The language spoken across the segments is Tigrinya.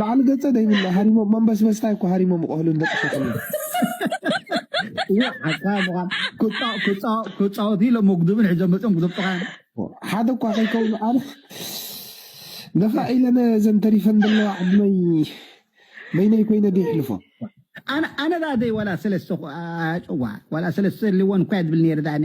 ላዕሊ ገጸ ደይብላ ሃሪሞም መንበስበስታይ እኮ ሃሪሞም ቆህልን ደቂ ሸክሚ ክፃወት ኢሎም መጉድብን ሕዞም መፅኦም ክዘብጡካ ሓደ እኳ ከይከውኑ ኣነ ገፋ ኢለነ ዘን ተሪፈን ዘለዋ ዕድመይ በይነይ ኮይነ ደይሕልፎ ኣነ ዳደይ ዋላ ሰለስተ ኣጭዋ ዋላ ሰለስተ ልወን እኳ ድብል ነይረ ዳኣነ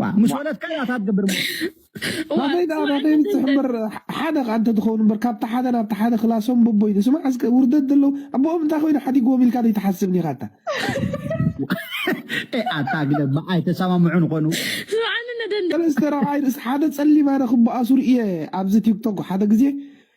ዋ ምስ ወለድካ እያ እታ ትገብር እሞ ዋ ናተይ ደኣ ዋ ናተይ እንተ እንታይ እምበር ሓደ ከኣ እንተ ትኸውን እምበር ካብቲ ሓደ ናብቲ ሓደ ክላሶም ቦቦ ኢሉ ስማዕ እስከ ውርደት ደለዉ ኣቦኦም እንታይ ኮይኑ ሓዲግዎም ኢልካ ዘይትሓስብን ኢኻ ኣታ ኤ ኣታ ግደ እባ ኣይተሰማምዑን ኾኑ ስምዓኒ ነደንደ ሰለስተ ረብዓይ ርእሲ ሓደ ጸሊም ኣነ ክበኣሱ ርእየ ኣብዚ ቲክቶክ ሓደ ግዜ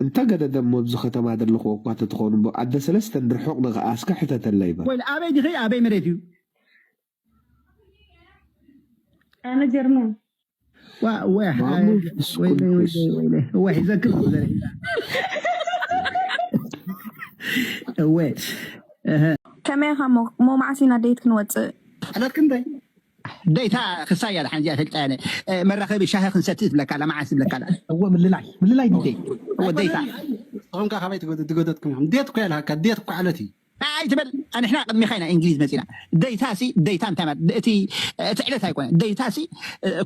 እንተ ገደ ደሞ ኣብዚ ከተማ ደለኹዎ እኳ ተትኾኑ እምቦ ኣደ ሰለስተ እንድር ሑቕ ንኸኣ እስከ ሕተተለይ በል። ወል ኣበይ ዲኺ ኣበይ መሬት እዩ። ኣነ ጀርመን ዋ ወይ ማሙ ሓ- ወይለይ እስኩል ወይለይ ኩስ ወይለይ እወ ሒዘክን እኮ ዘርኢ እወ እህ ከመይ ኢኻ እሞ እሞ መዓስ ኢና ደይት ክንወፅእ? ዕለት ክንደይ ደይታ ክሳይ እያ ድሓን እዚኣ ፈልጣ እያ መራኸቢ ሻሂ ክንሰቲ ትብለካ ኣላ መዓስ ትብለካ ኣላ እወ ምልላይ ምልላይ ዲጀይ እወ ደይታ ንስኹም ከ ካበይ ትገደትኩም ኢኹም ዴት እኮ የልሃካ ዴት እኮ ዓለት እዩ ኣይትበል ኣንሕና ቅድሚኻ ኢና እንግሊዝ መፂና ደይታ ሲ ደይታ እንታይ ማለት እቲ እቲ ዕለት ኣይኮነ ደይታ ሲ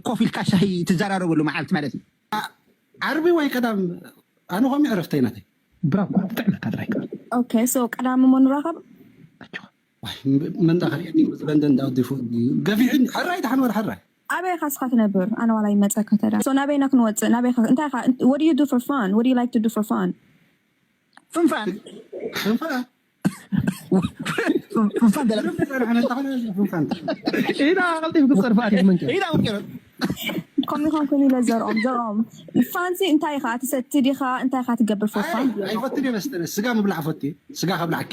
ኮፍ ኢልካ ሻሂ ትዘራረበሉ መዓልቲ ማለት እዩ ዓርቢ ወይ ቀዳም ኣነ ኮሚ ዕረፍተይ ናተይ ብራኳ ትጥዕመካ ጥራይ ኦኬ ሶ ቀዳሚ ሞ ንራኸብ መንዳ ከሪዐኒ ምስ ለንደን ዳውዲፉ ገፊሑኒ ሕራይ ድሓን ወር ሕራይ ኣበይ ኢኻ እስኻ ትነብር ኣነ ዋላ ይመጸካ ተዳ ሶ ናበይ ኢና ክንወጽእ ናበይ ኢኻ እንታይ ኢኻ what do you do for fun what do you like to do for fun ፍንፋን ፍንፋን ፍንፋን ደላ ኢና ቀልጢፍ ክጸርፋ ኣሪፍ መንከ ኢና ወንከረ ከምኡ ኾን ኮይኑ ኢለ ዘርኦም ዘርኦም ፋንሲ እንታይ ኢኻ ትሰቲ ዲኻ እንታይ ኢኻ ትገብር for fun ኣይፈትድ መስተ ስጋ ምብላዕ ፈት ስጋ ከብላዕኪ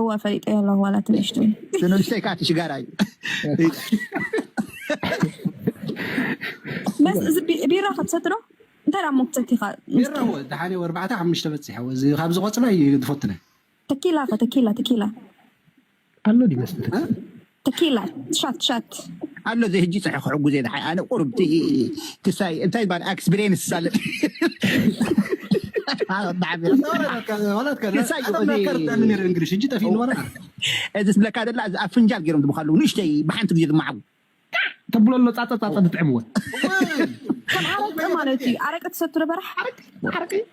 እወ ኣፈሊጠዮ ኣለኹ ዋላ እቲ ንእሽተይ። እቲ ንእሽተይ ከኣ እቲ ሽጋራ እዩ። መስ እዚ ቢ- ቢራ ክትሰቲ ዶ እንታይ ደኣ እሞ ክትሰቲኻ ቢራ እወ ደሓነ ወርባዕተ ሓሙሽተ በፂሐ እወ እዚ ካብዚ ቆፅላ እዩ ዝፈትነ ተኪላ ከ ተኪላ ተኪላ ኣሎ ድዩ መስተ ተኪላ ተኪላ ሻት ሻት። ኣሎ እዚ ህጂ ጸሐ ክሕጉዝ እየ ደሓይ ኣነ ቁሩብ እቲ ክሳይ እንታይ ይባል ኣክስብሬንስ ሳለጥ እዚ ዝብለካ ደላ እዚ ኣብ ፍንጃል ገይሮም ዝብካ ኣለዉ ንእሽተይ ብሓንቲ ግዜ ዝመዓጉ ተብሎ ኣሎ ጻጸ ጻጸ ዝጥዕምዎ ከም ኣረቂ ማለት እዩ ኣረቂ ትሰቱ ነበራሕ ኣረቂ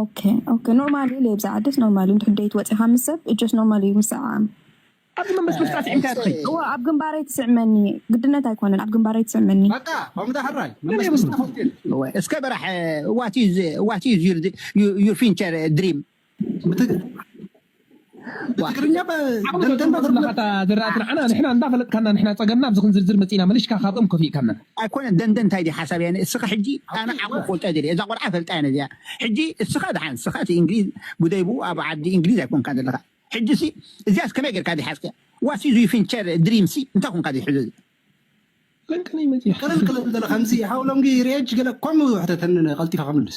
ኦኬ ኦኬ ኖርማል እዩ ለብዛ ዓድስ ኖርማል እዩ እንድሕር ደይት ወፂኻ ምስ ሰብ እጆስ ኖርማል እዩ ምስዕዓም ኣብዚ መንበስ ምስ ጣስዒምካ ትኸይ እወ ኣብ ግንባረይ ትስዕመኒ ግድነት ኣይኮነን ኣብ ግንባረይ ትስዕመኒ በቃ ከምዛ ሕራይ መንበስ ምስ ጣስዒምካ እወ እስከ በራሕ ዋት ኢዝ ዋት ኢዝ ዩር ዩር ፊንቸር ድሪም ብትግርኛ ባ ዓቕሊ ደንደን ገጹን ባ ትርጉም ኩላኻ እታ ዝረኣት ንዓና ንሕና እንዳፈለጥካና ንሕና ጸገምና ኣብዚ ክንዝርዝር መጺእና መሊሽካ ካብ እም ከፊእካና። ኣይኮነን ደንደን እንታይ ድዩ ሓሳብ ያኒ እስኺ ሕጂ ኣነ ዓቕሊ ክፈልጦ ኣይደልየ እዛ ቆልዓ እፈልጣ እየ ነዚኣ ሕጂ እስኻ ድሓን እስኻ እቲ እንግሊዝ ጉደይ ብኡ ኣብ ዓዲ እንግሊዝ ኣይኮንካን ዘለኻ ሕጂ ሲ እዚኣስ ከመይ ጌርካ ድዩ ሓዝካያ ዋት ኢዝ ዩ ፊንቸር ድሪም ሲ እንታይ ኮንካ ድዩ ሕዚ እዚ ለንቅነይ መጺኣ። ቅልል ቅልል በለ ከምዚ ሓው ሎንጊ ሪኤጅ ገለ ከምኡ ሕተተኒ ቀልጢፈ ክምልስ።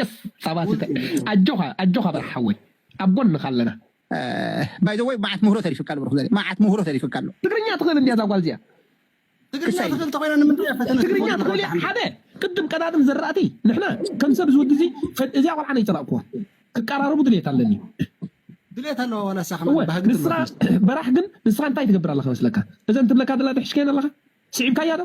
የስ ጻባ ስተ ኣጆኻ ኣጆኻ በራሕ ሓወይ ኣብ ጎንኻ ኣለና። ባይ ዘ ወይ መዓት ምህሮ ተሪፍካ ኣሎ ብሩክ ዘርኢ መዓት ምህሮ ተሪፍካ ኣሎ። ትግርኛ ትኽእል እንድያ እዛ ጓል እዚኣ። ትግርኛ ክሳይ ትኽእል እንተኾይና ንምንታይ እያ ፈተነ ትግርኛ ትገብሩ ትኽእል እያ ወልሓንቲ? ሓደ ቅድም ቀዳድም ዘራእቲ ንሕና ከም ሰብ እዚ ወዲ እዚ ፈ- እዚኣ ቆልዓ ነይጸላእኩዋ ክቀራረቡ ድሌት ኣለኒ ድሌት ኣለዋ ዋላ እሳ እወ ከማን ባህጊ ንስኻ ትብለኩም። በራሕ ግን ንስኻ እንታይ ትገብር ኣለኻ መስለካ እዘን ትብለካ ዘላ ድሕሽከየን ኣለኻ ስዒብካያ ዶ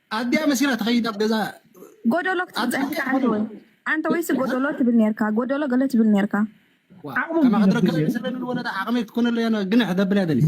ኣዲኣ መሲላ ትኸይድ ኣብ ገዛ ጎዶሎ ክትብል ኣብ ፀኒሕካ ሓንቲ ወይ ጸኒሑ ሓንቲ ወይሲ ጎዶሎ ትብል ነርካ ጎዶሎ ገለ ትብል ነርካ። ዋ ዓቕሞም ከማኺ ድዩ ትረክብ እየ ዝብል? ሰለሚ ንወለዳ ዓቕመይ ክትኮነለይ ኣነ ግንሕ ተብል እያ ደልየ።